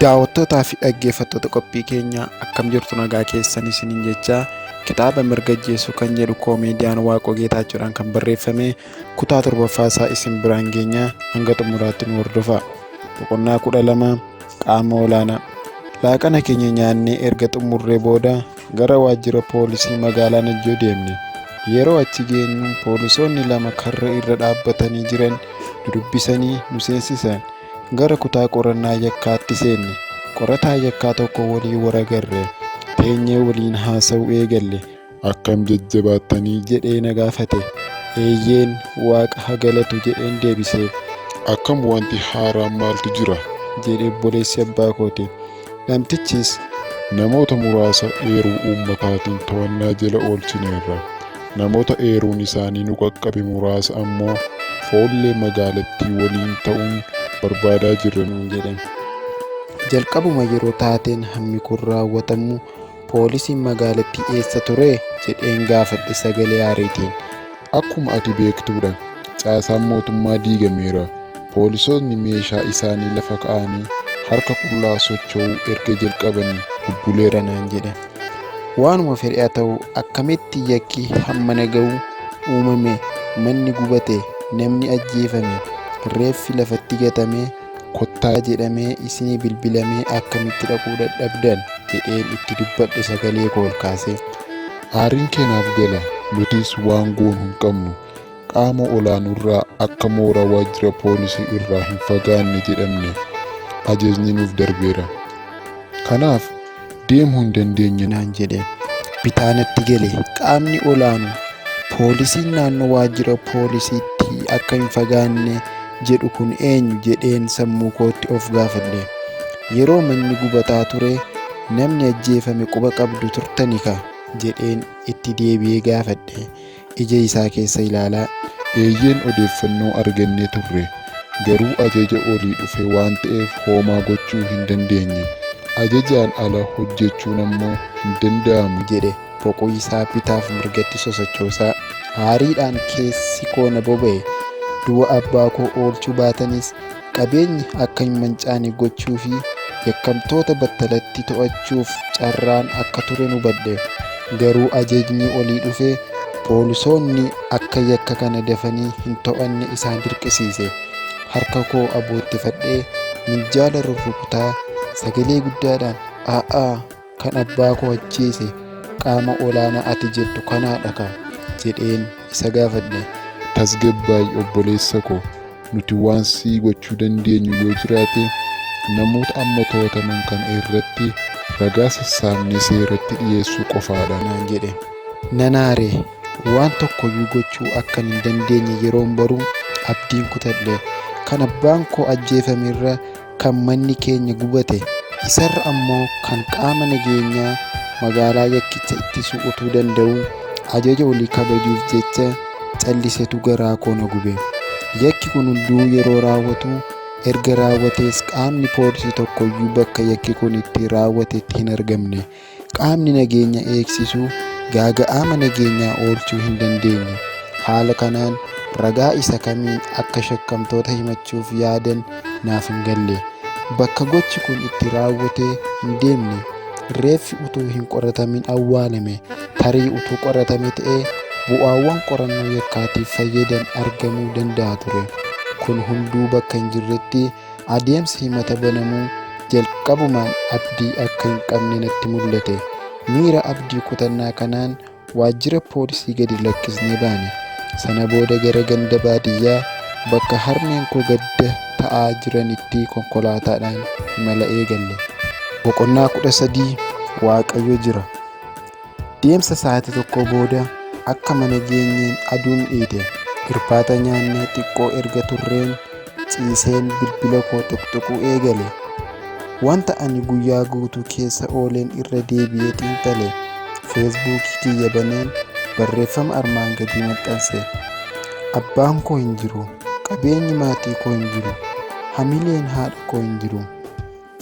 Daawwattootaa fi dhaggeeffattoota qophii keenya akkam jirtu nagaa keessan isiniin jechaa kitaaba mirga ajjeesuu kan jedhu koomeediyaan Waaqoo Geetaachoodhaan kan barreeffame kutaa torbaffaa isaa isin biraan geenya hanga xumuraatti nu hordofa. Boqonnaa kudha lama qaama olaanaa. Laaqana keenya nyaannee erga xumurree booda gara waajjira poolisii magaalaa Najjoo deemne. Yeroo achi geenyu poolisoonni lama karra irra dhaabbatanii jiran nu dubbisanii nu seensisan. Gara kutaa qorannaa yakkaatti seenne. Qorataa yakkaa tokko waliin waragarre. Teenyee waliin haasa'uu eegalle. Akkam jajjabaattanii? jedhee na gaafate. Eeyyeen waaqa ha galatu jedheen deebiseef. Akkam wanti haaraan maaltu jira? jedhe obboleessi abbaa kooti. Namtichis namoota muraasa eeruu uummataatiin to'annaa jala oolchineerra. Namoota eeruun isaanii nu qaqqabe muraasa ammoo foollee magaalattii waliin ta'uun barbaadaa jirra nuun jedhan. Jalqabuma yeroo taateen hammi kun raawwatamu Poolisiin magaalattii eessa ture? jedheen gaafadhe sagalee aariitiin. Akkuma ati beektudha. Caasaan mootummaa diigameera. Poolisootni meeshaa isaanii lafa ka'aanii harka qullaa socho'uu erga jalqabanii bubbuleera naan jedhe. Waanuma fedhe haa ta'u akkamitti yakki hammana ga'u uumame, manni gubate, namni ajjeefame, reeffi lafatti gatame, Kottaa jedhamee isinii bilbilamee akkamitti dhaquu dadhabdan jedheen itti dubbadhe sagalee koo ol kaasee. Aariin kee naaf gala, nutis waan goonu hin qabnu. Qaama olaanurraa akka mooraa waajjira poolisii irraa hin fagaanne jedhamne ajajni nuuf darbeera. Kanaaf deemuu hin dandeenye naan jedhe. Bitaa natti gale. Qaamni olaanu poolisiin naannoo waajjira poolisiitti akka hin fagaanne jedhu kun eenyu jedheen sammuu kootti of gaafadhe. Yeroo manni gubataa ture namni ajjeefame quba qabdu turtani ka jedheen itti deebi'ee gaafadhe. ija isaa keessa ilaalaa. Eeyyeen odeeffannoo argannee turre. Garuu ajaja olii dhufe waan ta'eef hoomaa gochuu hin dandeenye. Ajajaan ala hojjechuun ammoo hin danda'amu. jedhe boquu isaa bitaaf mirgatti sosochoosaa. Aariidhaan keessi koo na boba'e. Du'a abbaa koo oolchuu baatanis Qabeenyi akka hin mancaane gochuu fi yakkamtoota battalatti to'achuuf carraan akka turen hubadhe. Garuu ajajni olii dhufe poolisoonni akka yakka kana dafanii hin to'anne isaan dirqisiise. Harka koo aboottifadhee minjaala rurrukutaa sagalee guddaadhaan a'aa! Kan abbaa koo ajjeese qaama olaanaa ati jettu kanaadha kaa? jedheen isa gaafadhe. Tasgabbaa'i obboleessa koo. Nuti waan sii gochuu dandeenyu yoo jiraate namoota amma to'ataman kana irratti ragaa sassaabnee seeratti dhiyeessuu qofaadha. naan jedhe. Nan aare. Waan tokkoyyuu gochuu akkan hin dandeenye yeroon baru abdiin kutadhe. Kan abbaan koo ajjeefame irra kan manni keenya gubate isarra ammoo kan qaama nageenyaa magaalaa yakkicha ittisuu utuu danda'uu ajaja olii kabajuuf jecha callisetu garaa koo na gube. Yakki kun hunduu yeroo raawwatu erga raawwatees qaamni poolisii tokkoyyuu bakka yakki kun itti raawwatetti hin argamne. Qaamni nageenya eegsisu gaaga'ama nageenyaa oolchuu hin dandeenye. Haala kanaan ragaa isa kamiin akka shakkamtoota himachuuf yaadan naaf hin galle. Bakka gochi kun itti raawwate hin deemne. Reeffi utuu hin qoratamin awwaalame. Tarii utuu qoratame ta'ee bu'aawwan qorannoo yakkaatiif fayyadan argamuu danda'a ture. Kun hunduu bakka hin jirretti Adeemsi himata banamuu jalqabumaan abdii akka hin qabne natti mul'ate. Miira abdii kutannaa kanaan waajjira poolisii gadi lakkisnee baane. Sana booda gara ganda baadiyyaa bakka harmeen koo gadda ta'aa jiranitti konkolaataadhaan imala eegalle. Boqonnaa 13 Waaqayyo Jira. Deemsa sa'aatii tokkoo booda akka mana geenyeen aduun dhiite. Irbaata nyaannee xiqqoo erga turreen ciiseen bilbila koo tuqtuquu eegale. Wanta ani guyyaa guutuu keessa ooleen irra deebi'ee xiinxale. Feesbuukii kiyya baneen barreeffama armaan gadii maxxanse. Abbaan koo hin jiru. Qabeenyi maatii koo hin jiru. Hamileen haadha koo hin jiru.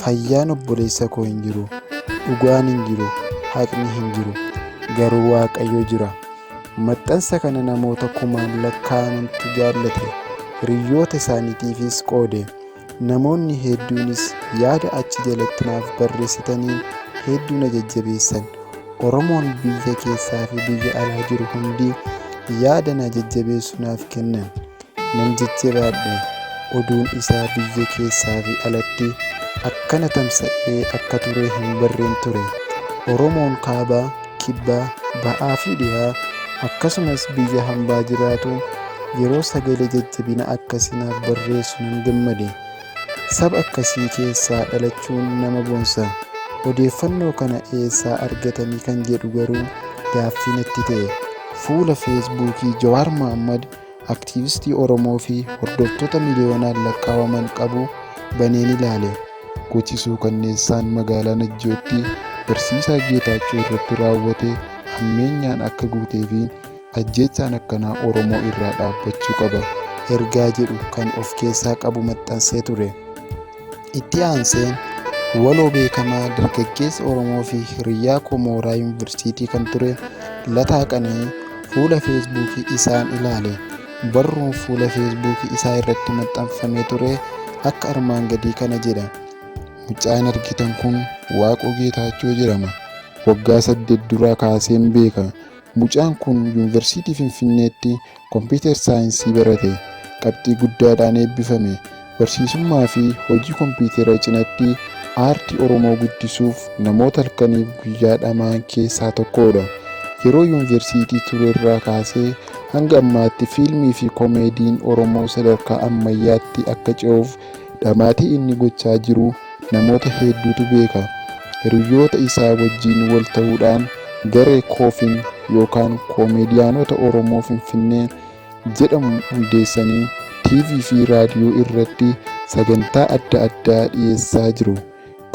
Fayyaan obboleessa koo hin jiru, dhugaan hin jiru, haqni hin jiru, garuu Waaqayyo jira. Maxxansa kana namoota kumaan lakkaa'amantu jaallate, hiriyyoota isaaniitiifis qoode. Namoonni hedduunis yaada achi jalatti naaf barreessitaniin hedduu na jajjabeessan. Oromoon biyya keessaa fi biyya alaa jiru hundi yaada na jajjabeessu naaf kennan. Nan jijjiraadhe. Oduun isaa biyya keessaa fi alatti akkana tamsa'ee akka ture hin barreen ture. Oromoon kaabaa, kibbaa, ba'aa fi dhihaa akkasumas biyya hambaa jiraatu yeroo sagalee jajjabina akkasii naaf barreessu nan gammade. Saba akkasii keessaa dhalachuun nama boonsa. Odeeffannoo kana eessaa argatanii kan jedhu garuu gaaffii natti ta'e. Fuula Feesbuukii Jawaar Mahaammad aktiivistii Oromoo fi hordoftoota miliyoonaan lakkaa'aman qabu baneen ilaale. Gochi suukanneessaan magaalaa Najjootti barsiisaa Geetaachoo irratti raawwate hammeenyaan akka guutee fi ajjeechaan akkanaa Oromoo irraa dhaabbachuu qaba ergaa jedhu kan of keessaa qabu maxxansee ture. Itti aanseen waloo beekamaa dargaggeessa Oromoo fi hiriyyaa koo mooraa yuunivarsiitii kan ture Lataa Qana'ii fuula feesbuukii isaan ilaale. Barruun fuula feesbuukii isaa irratti maxxanfamee ture akka armaan gadii kana jedha. Mucaan argitan kun Waaqoo Geetaachoo jedhama. Waggaa saddeet duraa kaaseen beeka. Mucaan kun yuunivarsiitii Finfinneetti Kompiitar Saayinsii barate, qabxii guddaadhaan eebbifame. Barsiisummaa fi hojii kompiitara cinatti aartii Oromoo guddisuuf namoota halkaniif guyyaa dhama'an keessaa tokkoodha. Yeroo Yuunversiitii turerraa kaasee hanga ammaatti fiilmii fi komeediin Oromoo sadarkaa ammayyaatti akka ce'uuf Dhamaatii inni gochaa jiru namoota hedduutu beeka. Hiriyyoota isaa wajjin wal ta'uudhaan garee Koofin yookaan Koomeediyaanota Oromoo Finfinnee jedhamu hundeessanii TV fi raadiyoo irratti sagantaa adda addaa dhiyeessaa jiru.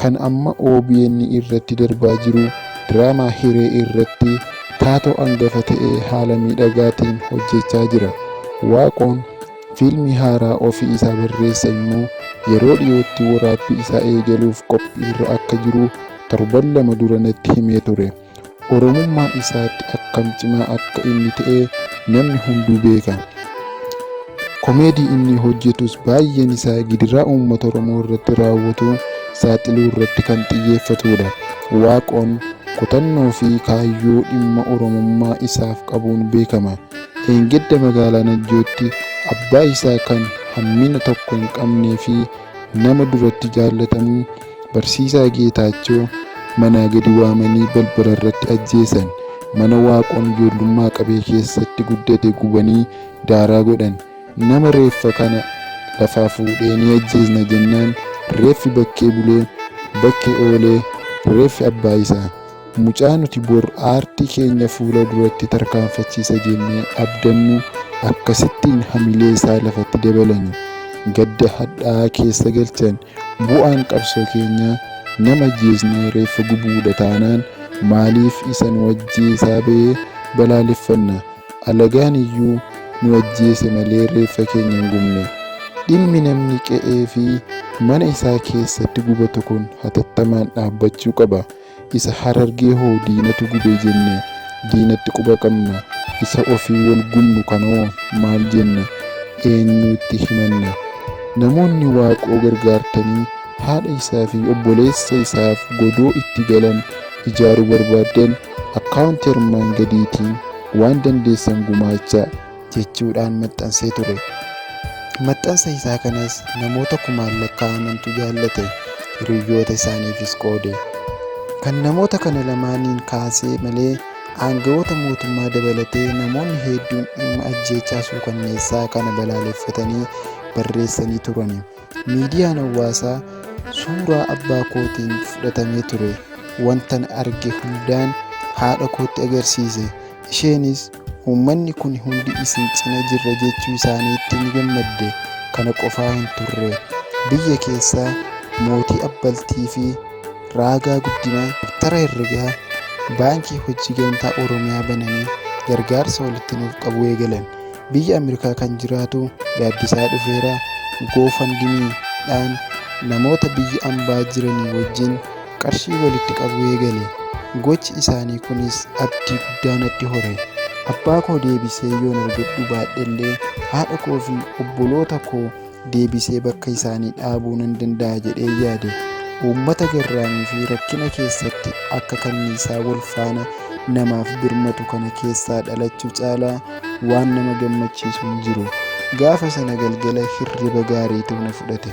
Kan amma obn irratti darbaa jiru diraamaa hiree irratti taatoo angafa ta'e haala miidhagaatiin hojjechaa jira. Waaqoon fiilmii haaraa ofii isaa barreesse immoo yeroo dhiyootti waraabbii isaa eegaluuf qophiirra akka jiru torban lama dura natti himee ture. Oromummaa isaatti akkam cimaa akka inni ta'e namni hunduu beeka. Komeedii inni hojjetus baay'een isaa gidiraa uummata Oromoo irratti raawwatu saaxiluu irratti kan xiyyeeffatudha. Waaqoon kutannoo fi kaayyoo dhimma Oromummaa isaaf qabuun beekama. Eengedda magaalaa Najjootti abbaa isaa kan hammina tokko hin qabnee fi nama duratti jaallatamu Barsiisaa Geetaachoo manaa gadi waamanii balbala irratti ajjeesan. Mana Waaqoon ijoollummaa qabee keessatti guddate gubanii daaraa godhan. Nama reeffa kana lafaa fuudhee ni ajjeesna jennaan reeffi bakkee bulee bakkee oolee reeffi abbaa isaa. Mucaa nuti bor aartii keenya fuula duratti tarkaanfachiisa jennee abdannu akkasittiin hamilee isaa lafatti dabalani. Gadda hadhaa'aa keessa galchan. Bu'aan qabsoo keenyaa nama ajjeesnee reeffa gubuudha taanaan maaliif isa nu ajjeesaa bahe balaaleffanna? Alagaan iyyuu nu ajjeese malee reeffa keenya hin gubne. Dhimmi namni qe'ee fi mana isaa keessatti gubatu kun hatattamaan dhaabbachuu qaba. Isa harargee hoo diinatu gube jenne diinatti quba qabna isa ofii wal gubnu kanoo maal jenna eenyuutti himanna namoonni waaqoo gargaartanii haadha isaa fi obboleessa isaaf godoo itti galan ijaaruu barbaaddan account armaan gadiitiin waan dandeessan gumaachaa. jechuudhaan maxxansee ture. Maxxansa isaa kanas namoota kumaan lakkaa'amantu jaallate, hiriyyoota isaaniifis qoode. Kan namoota kana lamaaniin kaasee malee aangawoota mootummaa dabalatee namoonni hedduun dhimma ajjeechaa suukanneessaa kana balaaleffatanii barreessanii turani. Miidiyaan hawaasaa suuraa abbaa kootiin fudhatamee ture. Wantan arge hundaan haadha kootti agarsiise. Isheenis uummanni kun hundi isin cina jirra jechuu isaaniitti ni gammadde. Kana qofaa hin turre. Biyya keessaa mootii abbaltii fi raagaa guddinaa daftara herregaa baankii hojii gamtaa Oromiyaa bananii gargaarsa walitti nuuf qabuu eegalan. biyya Ameerikaa kan jiraatu Gaaddisaa Dhufeera GoFundMe dhaan namoota biyya ambaa jiranii wajjin qarshii walitti qabuu eegale. Gochi isaanii kunis abdii guddaa natti hore. Abbaa koo deebisee yoon argadhuu baadhellee haadha koo fi obboloota koo deebisee bakka isaanii dhaabuu nan danda'a jedhee yaade uummata garraamii fi rakkina keessatti akka kanniisaa wal faana namaaf birmatu kana keessaa dhalachuu caalaa waan nama gammachiisu hin jiru gaafa sana galgala hirriba gaariitu na fudhate.